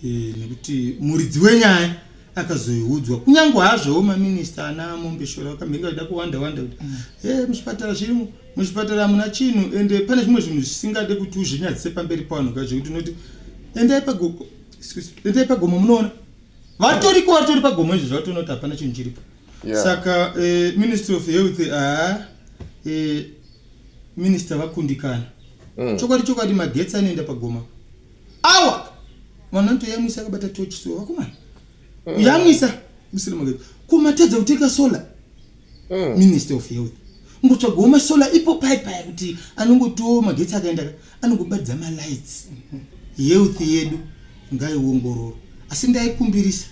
Eh, nekuti muridzi wenyaya akazoiudzwa kunyange hazvowo maminista ana mombeshora vakamhirika vachida kuwanda wanda kuti mm. eh, muzvipatara zvirimo muzvipatara hamuna chinhu ende pane zvimwe zvinhu zvisingade kuti uzvinyadzise pamberi pavanhu ka zvekuti unoti endai pagomo endai pagomo munoona vatoriko vatori pagomo izvo zvavatoona kuti hapana chinhu chiripo saka eh, ministry of health haa eh, minista vakundikana mm. chokwadi chokwadi magetsi anoenda pagomo awa mwana ntoyamwisa akabata tochi so vakomana mm. yamwisa musina magezi kumatadza kutenga solar mm. minister of health ngotsvagawo masolar ipo pai paya kuti anongotiwo magetsi akaenda anongobaridza malights health yedu ngaiongororo asi ndaikumbirisa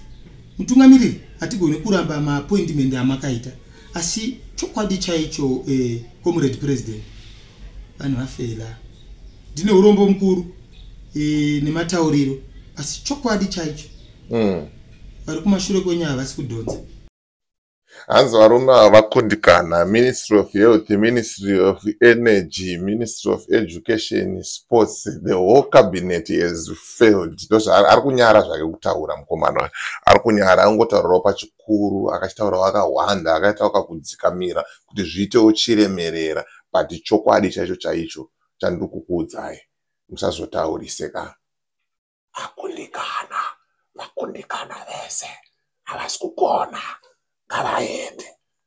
mutungamiriri hatigone kuramba maappointment amakaita asi chokwadi chaicho eh, comrade president vanhu vafela ndine urombo mukuru e, nematauriro asi chokwadi chaicho mm. vari kumashure kwenyu havasi kudhonza hanzi varume ava vakundikana ministry of health ministry of energy ministry of education sports the whole cabinet has failed ndozvaari kunyara zvake kutaura mukomana ari kunyara angotaurawo pachikoro mukuru akachitaurawo akahwanda akaitawo kakudzikamira kuti zviitewo chiremerera but chokwadi chaicho chaicho chandiri kukuudzai musazotaurise ka akundikana vakundikana vese havasi kugona ngavaende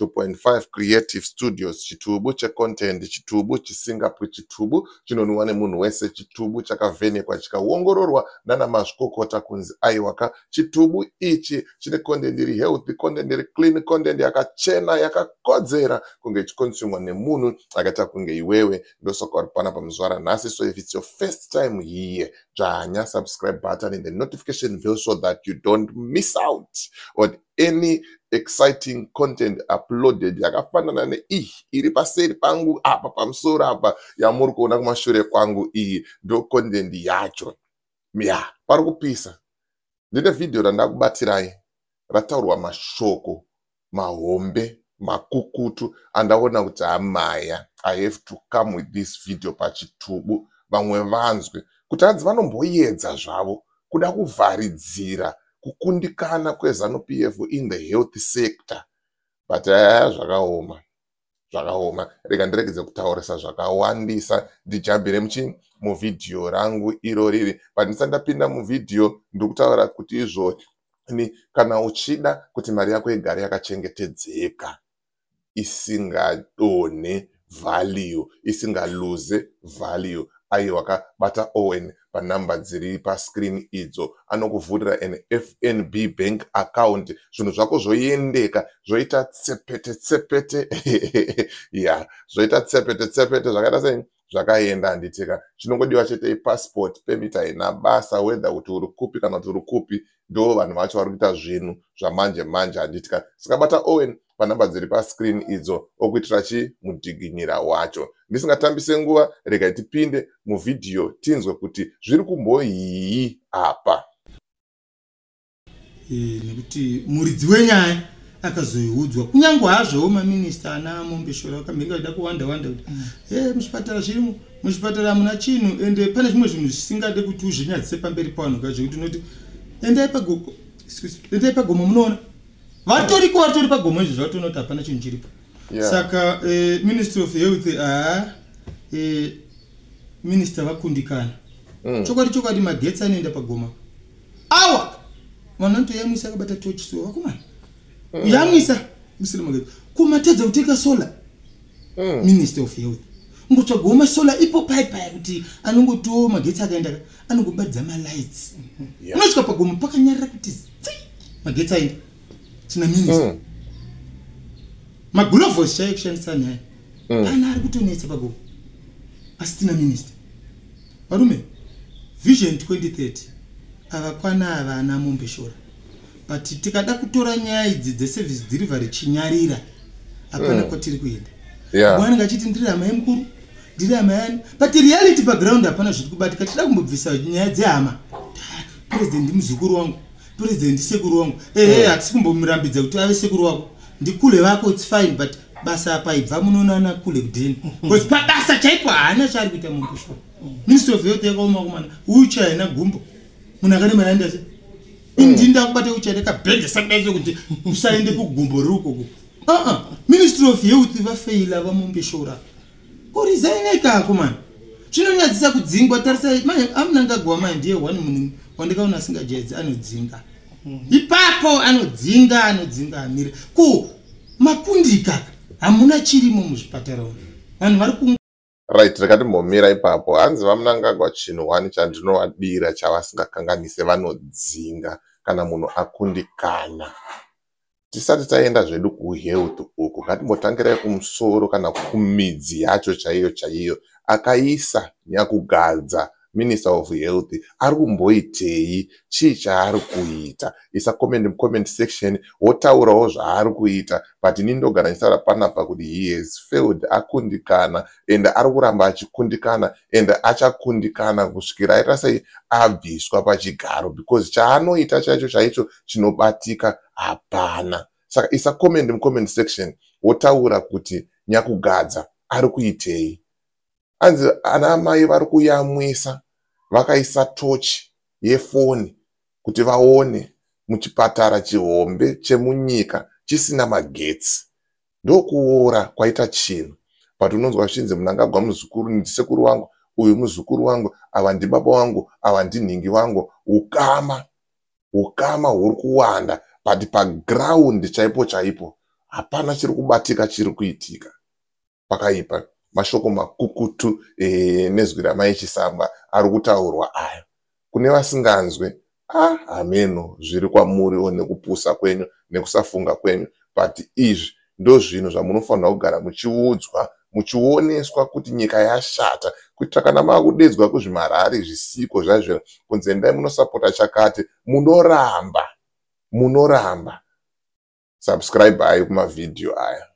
2.5 Creative Studios chitubu cheContent chitubu chisingapwi chitubu chinonwiwa nemunhu wese chitubu chakavhenekwa chikaongororwa nana mazvikokota kunzi aiwaka chitubu ichi chine content iri healthy content iri clean content yakachena yakakodzera kunge ichikonsumwa nemunhu akaita kunge iwewe ndosaka uri pana pamuzvara nhasi so if it's your first time here dzvanya subscribe button and the notification bell so that you don't miss out on any exciting content uploaded yakafanana neiyi iri paseri pangu apa pamusoro apa yamuri kuona kumashure kwangu iyi ndo content yacho ya pari kupisa ndine vhidhiyo randakubatirai rataurwa mashoko mahombe makukutu andaona kuti amaya i have to come with this video pachitubu vamwe vanzwe kuti hanzi vanomboyedza zvavo kuda kuvharidzira kukundikana kwezanu pf in the health sector but aya eh, zvakaoma zvakaoma rega ndiregedze kutaurisa zvakawandisa ndijambire muchii muvhidhiyo rangu iro riri but ndisati ndapinda muvhidhiyo ndiri kutaura kuti izvoni kana uchida kuti mari yako igare yakachengetedzeka isingadonhe value isinga lose value aiwa ka bata Owen panumber dziri pascreen idzo anokuvhurira an fnb bank account zvinhu zvako zvoendeka zvoita tsepete tsepete ya zvoita tsepete tsepete zvakaita sei zvakaenda handitika chinongodiwa chete ipassport permit haina basa whether kuti uri kupi kana kuti uri kupi ndo vanhu vacho vari kuita zvinhu zvamanje manje handitika sikabata owen panhamba dziri pascreen idzo okuitira chii mudhiginyira wacho ndisingatambise nguva regai tipinde muvhidhiyo tinzwe kuti zviri kumboyii apa eh, nekuti muridzi wenyaya akazoiudzwa kunyange hazvowo maminista ana mombeshora vakamhenge vachida kuwanda wanda kuti mm. eh, muzvipatara zvirimo muzvipatara hamuna chinhu ende pane zvimwe zvinhu zvisingade kuti uzvinyadzise pamberi pavanhu ka zvekuti unoti endai pagomo endai pagomo munoona vatoriko vatori pagomo izvo zvavatoona kuti hapana chinhu chiripo saka eh, ministry of health aa ah, eh, minister vakundikana mm. chokwadi chokwadi magetsi anoenda pagoma awa mwana ntoyamwisa akabata tochi so vakomana mm. yamwisa musina magezi kumatadza kutenga solar mm. minister of health ngotsvagawo masola ipo pai paya kuti anongotiwo magetsi akaenda anongobaridza malights mm-hmm. unosvika pagomo pakanyarira kuti zi magetsi aenda tina minister mm. magulovos chaiyo kushandisa naye mm. ana ari kutonetsa babo asitina minista varume vision 2030 avakwana ava ana mombeshora but tikada kutora nyaya idzi dzeservice delivery chinyarira hapana mm. kwatiri kuenda yeah. wanenge achiti ndiri hama yemukuru ndiri hama yani but reality paground hapana zviri kubatika tida kumbobvisa nyaya dzehama president muzukuru wangu president sekuru wangu ehe eh. hatisi kumbomurambidza kuti ave sekuru wako ndikule vako its fine but basa apa ibva munoonana kule kudeni bcause pabasa chaipo haana chaari kuita munhu kushwa ministry of health yakaoma kumana ucha haina gumbo munhu akanemana ndase indini ndakubata ucha ndakabhedha sakudaiso kuti usaende kugumbo riri ukoko aa ah, ah. ministry of health vafeila vamumbeshora kurizaineka ako mani zvinonyadzisa kudzingwa tarisa manje amunangagwa manje ndiye one munhu wandikaona asingajaidzi anodzinga mhm. ipapo anodzinga anodzinga amire ko makundika hamuna chirimo muzvipatara umu vanhu vari ku right rakatimbomira ipapo hanzi vamunangagwa chinhu one chandinovadira chavasingakanganise vanodzinga kana munhu akundikana tisati taenda zvedu kuhealth uku ngatimbotangirai kumusoro kana kumidzi yacho chaiyo chaiyo akaisa nyakugadza minister of health ari kumboitei chii chaari kuita isa comment mucomment section wotaurawo zvaari kuita but ini ndogara ndichitaura panapa kuti he has failed akundikana and ari kuramba achikundikana and achakundikana kusvikira aita sei abviswa pachigaro because chaanoita chaicho chaicho chinobatika hapana saka isa comment mucomment section wotaura kuti nyakugadza ari kuitei anzi ana amai vari kuyamwisa vakaisa tochi yefoni kuti vaone muchipatara chihombe chemunyika chisina magetsi ndokuora kwaita chinhu but unonzwa zvichinzi munangagwa muzukuru ndisekuru wangu uyu muzukuru wangu ava ndibaba wangu ava ndinhingi wangu ukama ukama huri kuwanda but paground chaipo chaipo hapana chiri kubatika chiri kuitika pakaipa mashoko makukutu e, nezwi ramai chisamba ari kutaurwa aya kune vasinganzwe ah hameno zviri kwamuriwo nekupusa kwenyu nekusafunga kwenyu but izvi ndozvinhu zvamunofanirwa kugara muchiudzwa muchioneswa kuti nyika yashata kuitira kana makudedzwa kuzvimarari zvisiko zvaizvo kunzi endai munosapota chakati munoramba munoramba subscribe ayo kumavhidhiyo aya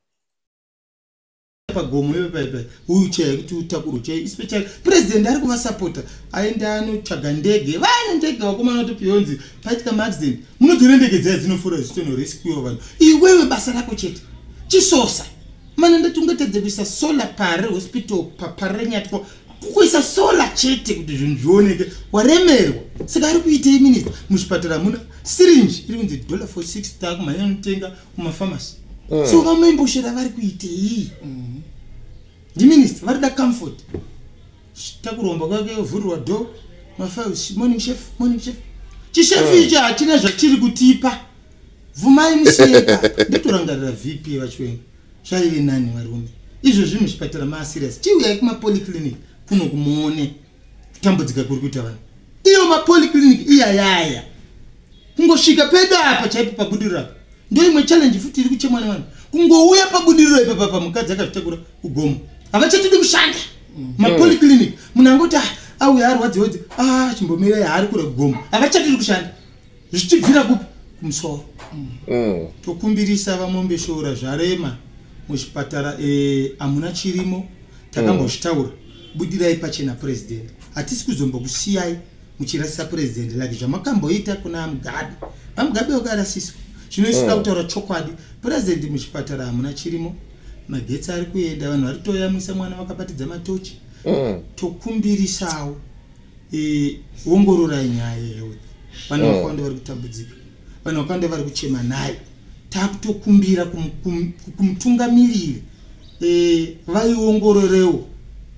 pagomo iwe paipa uyu chaya kuti utakuro chai ispecial president ari kuvasapota aende anotsvaga ndege vaine ndege vakomana kuti pionzi paitika maaccident munodziona ndege dzaya dzinofura zvitonho resikuiwa vanhu iwewe basa rako chete chisosa mana ndati ungatadze kuisa solar pare hospital paparenyatwa kukuisa solar chete kuti zvinhu zvioneke waremerwa saka ari kuitei minista muzvipatara muna sirinji iri kunzi dollar for six ta kumhanya anotenga kumafamasi mm. so vamemboshera vari kuitei mm. ndiminista vari da comfort takuromba kwake ovhurirwa do mafiles morning chef morning chef chishefu icho hachina zvatiri kutipa vhumai museka ndotorangarira vp vachiwenga zvaive nani varume izvozvi muzvipatara maasirias chiuyai kumapoliclinic kuno kumuone kutambudzika kuri kuita vanhu iyo mapoliclinic iyayaya kungosvika pedu apa chaipo pabudiriro apa ndo imwe challenge futi iri kuchemwa nevanhu kungouya pabudiriro ipa papa mukadzi akazvitakura kugomo havachatidi kushanda mm. mapoliclinic munhu angoti ah, auya arwadziodzi a ah, chimbomirei haari kure kugomo havachatidi kushanda zvichibvira kupi kumusoro mm. tokumbirisa vamombe shora zvarema muzvipatara eh, hamuna chirimo takambozvitaura budirai pachena president hatisi kuzombokusiyai muchirasisa president like zvamakamboita kuna mugabe vamugabe vakarasiswa zvino isu da mm. kutaura chokwadi president muchipatara hamuna chirimo magetsi ari kuenda vanhu vari toyamwisa mwana vakapatidza matochi mm. tokumbirisawo e, ongororai nyaya yehealth vanhu mm. vakawanda vari kutambudzika vanhu vakawanda vari kuchema nayo takutokumbira kumutungamiriri e, vaiongororewo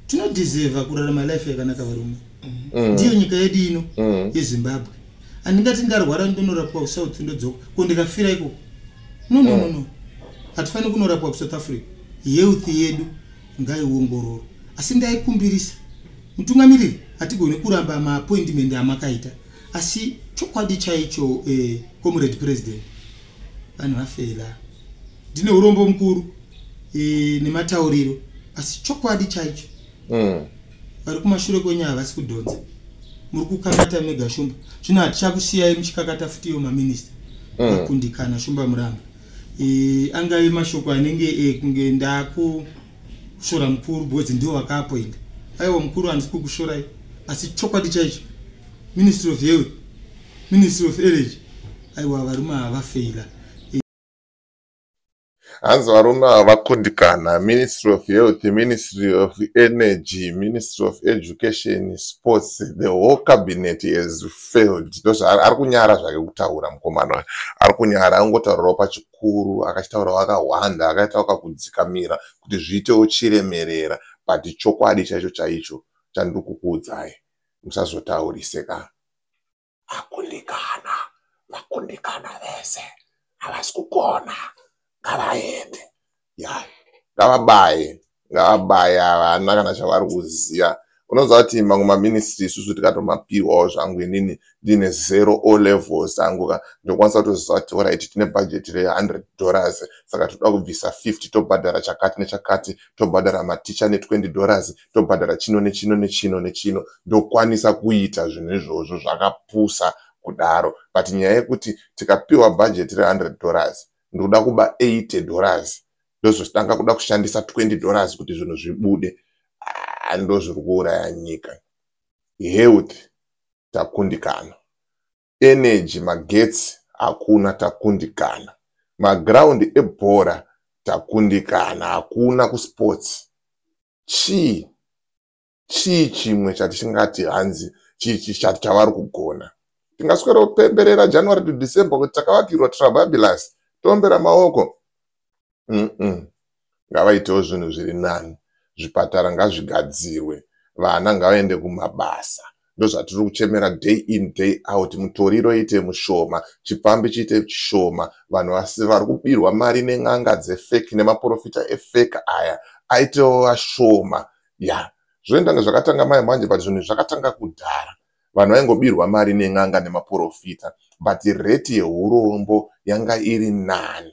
tinodeseva kurarama life yakanaka varume Mm. ndiyo nyika yedu ino Mm. yezimbabwe handingati ndarwara ndonorapwa kusouth ndodzoka ko ndikafira ikoko no no no no hatifaniri kunorapwa kusouth africa health yedu ngaiongororwa asi ndaikumbirisa mutungamiriri hatigoni kuramba maappointment amakaita asi chokwadi chaicho eh, comrade president vanhu vafela ndine urombo mukuru eh, nematauriro asi chokwadi chaicho Mm. vari kumashure kwenyu havasi kudhonza muri kukakata mega shumba zvino hatichakusiyai muchikakata futi iyo maminista mm. akundikana shumba muramba e, angave mashoko anenge e, kunge ndakushora mukuru because ndiwo vakaapoinda aiwa mukuru handisi kukushorai asi chokwadi chaicho ministry of health ministry of energy aiwa varume havafeila hanzi varume ava vakundikana ministry of health ministry of energy ministry of education sports the whole cabinet has failed ndozvaari kunyara zvake kutaura mukomana ari kunyara angotaurawo pachikuru akachitaurawo akahwanda akaitawo kakudzikamira kuti zviitewo chiremerera but chokwadi chaicho chaicho chandiri kukuudzai musazotaurise ka vakundikana vakundikana vese havasi kugona ngavaende ya ngavabaye ngavabaye havana kana chavari kuziva unoziva kuti mamwe maministry isusu tikatomapiwawo zvangu inini ndiine zero o levels angu ka ndokwanisa kutoziva kuti orit tine bhajeti re100 dollars saka toda kubvisa 50 tobhadhara chakati nechakati tobhadhara maticha ne20 dollars tobhadhara chino nechino nechino nechino ndokwanisa kuita zvinhu izvozvo zvakapusa kudaro but nyaya yekuti tikapiwa bhajeti re100 dollars ndikuda kuba 80 dollars ndozotanga kuda kushandisa 20 dollars kuti zvinhu zvibude ah, ndozviri kuuraya nyika health takundikana energy magetsi hakuna takundikana maground ebhora takundikana hakuna kusports chii chii chimwe chatisingati hanzi chichati chavari kugona tingaswera kupemberera january to december kuti takavakirwa trababilus toombera maoko mm ngavaitewo zvinhu zviri nani zvipatara ngazvigadzirwe vana ngavaende kumabasa ndozvatiri kuchemera day in day out mutoriro ite mushoma chipfambi chiite chishoma vanhu vasi vari kubirwa mari nen'anga dzefeki nemaprofita efeki aya aitewo vashoma ya zvoendanga zvakatanga mai manje but zvinhu zvakatanga kudhara vanhu vaingobirwa mari nen'anga nemaprofita but reti yeurombo yanga iri nani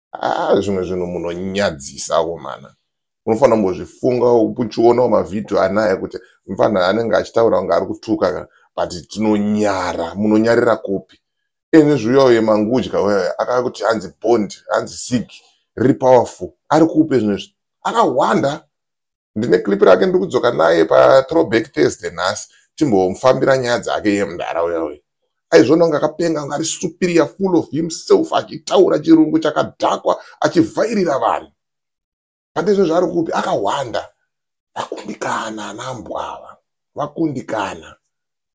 ah, zvimwe zvinhu munonyadzisa komana unofanira kumbozvifunga uchiona mavhidhiyo anaya kuti mfana anenge achitaura kunge ari kutuka but tinonyara munonyarira kupi ini zviuya uye mangudya uya akava kuti hanzi bond hanzi sig riri powerful ari kupe zvino izvi akahwanda ndine clip rake ndiri kudzoka naye patrowback thursday nhasi timbomufambira nyaya dzake iye mudhara uya uya aizvona kunge akapenga kunge ari superior full of himself achitaura chirungu chakadhakwa achivhairira vanhu pane izvo zvaari kupi akahwanda vakundikana anambwava vakundikana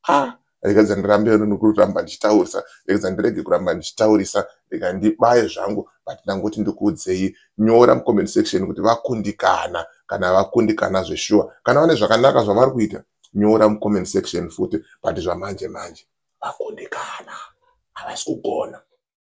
ha rekedza ndirambe kuramba ndichitaurisa rekedza ndirege kuramba ndichitaurisa rega ndibaye zvangu but ndangoti ndikuudzei nyora mucomment section kuti vakundikana kana vakundikana zveshuwa kana vane zvakanaka zvavari kuita nyora mucomment section futi but zvamanje manje vakundikana havasi kugona